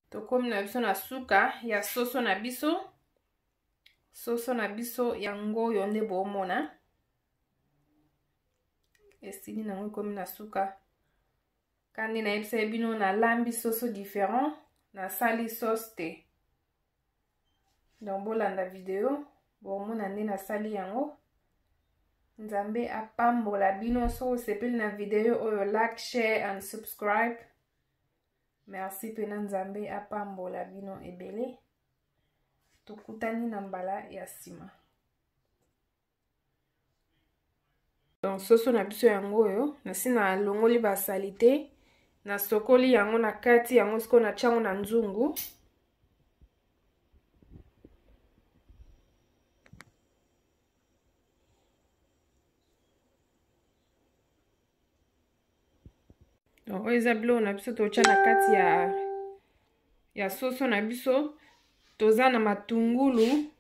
tokomi na biso na suka ya soso na biso soso na biso yango oyo nde bomona esili nango ekomi na suka kandi nayebisaki bino nalambi soso différent nasali sauce te donc bolanda video bomona nde nasali yango nzambe apambola bino soki osepeli na video oyo like share and subscribe merci pena nzambe apambola bino ebele tokutani na mbala ya nsima donc soso na biso yango oyo nasi nalongoli basalite nasokoli yango na kati yango sikoyo natya yango na nzungu donc oyo eza biloko na biso totya na kati ya ya soso na biso toza na matungulu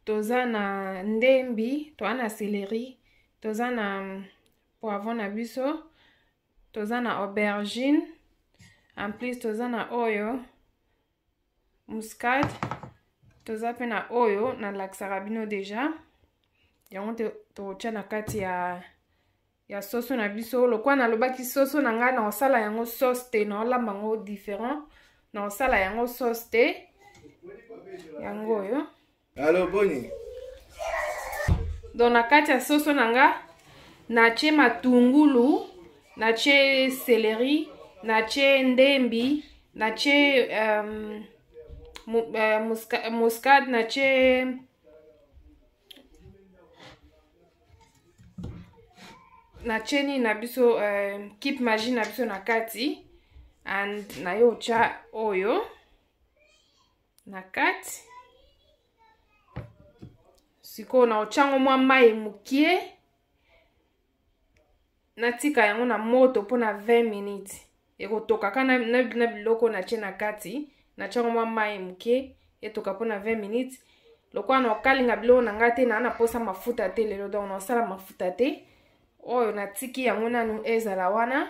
toza na ndembi toza na celeri toza na poivron na biso toza na aubergine en plus toza na oyo muscade toza mpe na oyo nalakisaka bino deja yango totya na kati ya ya soso na biso lokola nalobaki soso na ngai naosala yango sauce te naolamba yango différent naosala yango sauce te yango oyo Alo boni? Donc na kati ya soso na nga natie matungulu, natie celery, natie ndembi, natie um, mu, uh, muska, muscade, natie natie nini na biso uh, kip magie na biso na kati and naye otya oyo na kati sikoyo naotya yango mwa mai mokie natika yango na moto mpo na 20 minutes ekotokaka na, na, na biloko natye na kati natya yango mwa mai moke etoka mpo na 20 minutes lokola naokalinga biloko na ngai te naa na mposa mafuta te lelo donc naosala mafuta te oyo natiki yango nanu ezala wana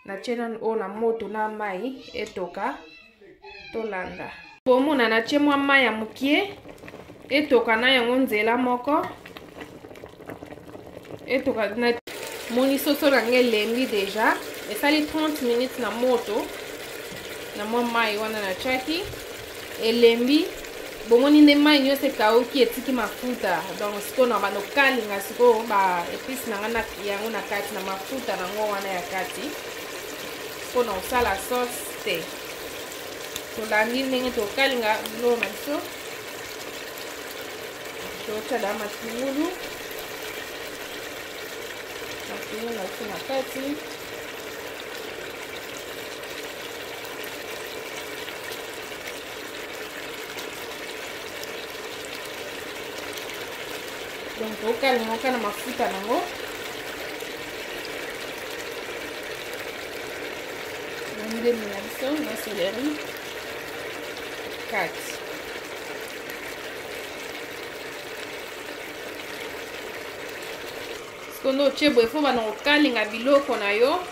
natye nanu oyo na moto na mai etoka tolanda bomona natye mwa mai ya moke etoka na yango nzela moko etoka na moni soso na ngai elembi deja esali 30 minutes na moto na mwa mai wana natyaki elembi bomoni nde mai nyonso ekauki etiki mafuta donc sikoyo na bando kalinga sikoyo ba epice na ngai yango na kati na mafuta na yango wana ya kati mpo na kosala sauce te tolandi ndenge tokalinga biloko na biso totyada matungulu matungulu na biso na kati donc okalinga oka na mafuta nango ndembi na biso na seleri kati sikondo otie boye fo bana kokalinga biloko na yo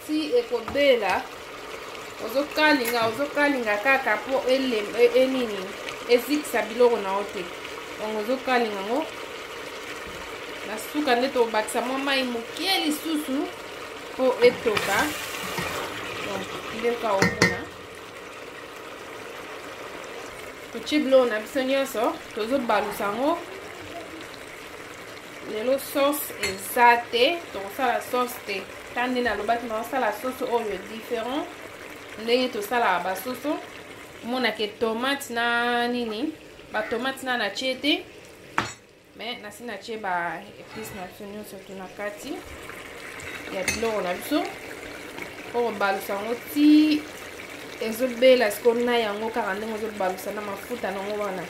ti ekobela ozokalinga ozokalinga kaka mpo enini e, ezikisa biloko na yo te yango ozokalinga yango na suka nde tobakisa mwa mai moke lisusu mpo etoka ndeka omona totie biloko na biso nyonso tozobalusa yango lelo sauce eza te tokosala sauce te ta nde nalobaki naosala soso oyo différent ndenge tosalaka basoso monake tomate na nini batomate na natie te me nasi natie ba épice na biso nyonso tu na kati ya biloko na biso mpo kobalusa yango ti ezobela sikoyo na yango kaka ndenge ozobalusa na mafuta nango wana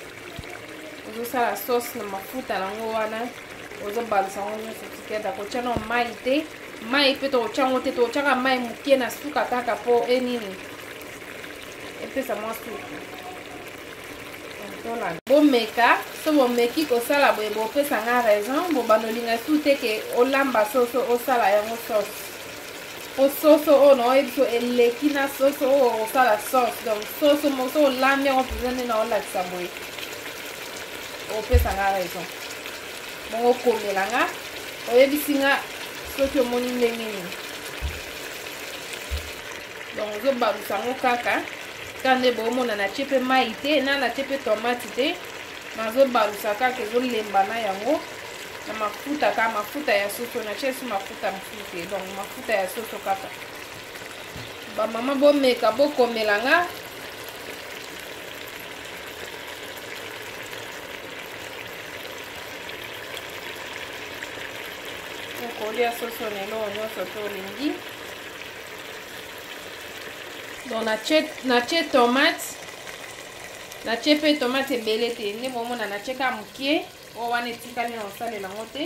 ozosala sauce na mafuta yango wana ozobalisa yango nyonso tikeda kotya na mai te mai mpe tokotya yango te tokotyaka mai moke na suka kaka mpo enini epesa mwa suku bomeka so bomeki kosala boye bopesa nga raison bobanda olinga su te ke olamba soso osala yango sauce po soso oyo naoye biso eleki na soso oyo okosala sauce donc soso moso olambi yango mpenza nde naolakisa boye opesa nga raison bongo okomela nga oyebisi nga soki omoni ndenge nini donc ozobalusa yango kaka ka nde boomona natye mpe mai te na natye mpe tomate te nazobalusa kaka ezolemba na yango na mafuta ka mafuta ya soso natye esi mafuta te donc mafuta ya soso kaka bamama bomeka bokomela nga okolia soso na eloko nyonso to olingi donc natye tomate natye mpe tomate ebele te nde bomona natye kaka moke oyo wana etikali na kosalela yango te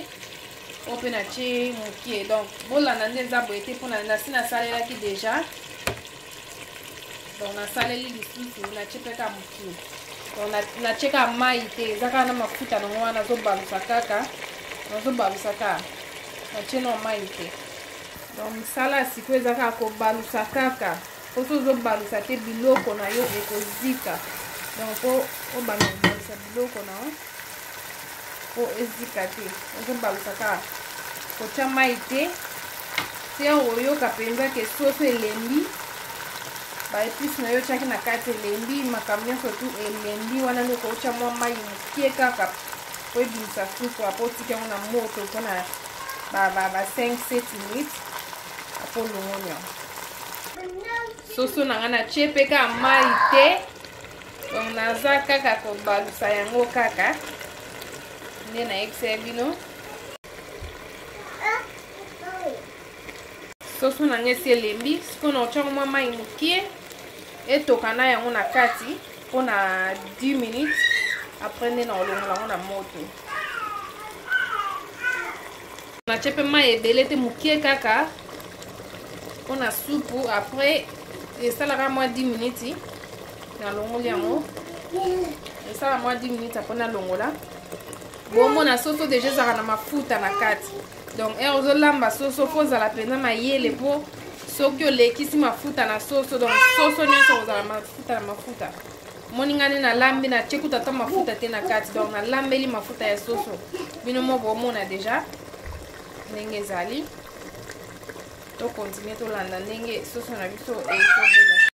oyo mpe natye mokie donc bolanda nde eza boye te mpona nasi nasalelaki deja donc nasaleli lisusu natye mpe ka mokie donc natye ka mai te eza kaka na mafuta nango wana nazobalusa kaka nazobalusa kaka natye na mai te donc misala ya sikoyo eza kaka kobalusa kaka oso ozobalusa te biloko na yo ekozika donc po obanda kobalusa biloko na yo po ezika te ozobalusa kaka kotya mai te te oyoka mpenza ke soso elembi baepice na yo otyaki na kati elembi makambo nyonso tu elembi wana nde okotya mwa mai moke kaka po ebimisa supu apo otiki yango na moto mpona ba, ba, ba 5 7 minutes po longonya soso na ngai natye mpe kaka mai te donc naza kaka kobalusa yango kaka nde nayebisa ya bino soso na ngai esi elembi sikoyo na otyango mwa mai mokie etoka na yango na kati mpo na 10 minutes apres nde na olongola yango na moto natye mpe mai ebele te moke kaka mpo na supu après esalaka mwa 10 miniti nalongoli yango esala mwa 10 miniti apres nalongola bomona soso deja ezalaka na mafuta na kati donc ere ozolamba soso mpo ozala mpenza mayele mpo soki olekisi mafuta na soso donc soso nyonso kozala mafuta na mafuta moningani nalambi natie kutu ata mafuta te na kati donc nalambeli mafuta ya soso bino mo bomona deja ndenge ezali tokontinue tolanda ndenge soso na biso ezobela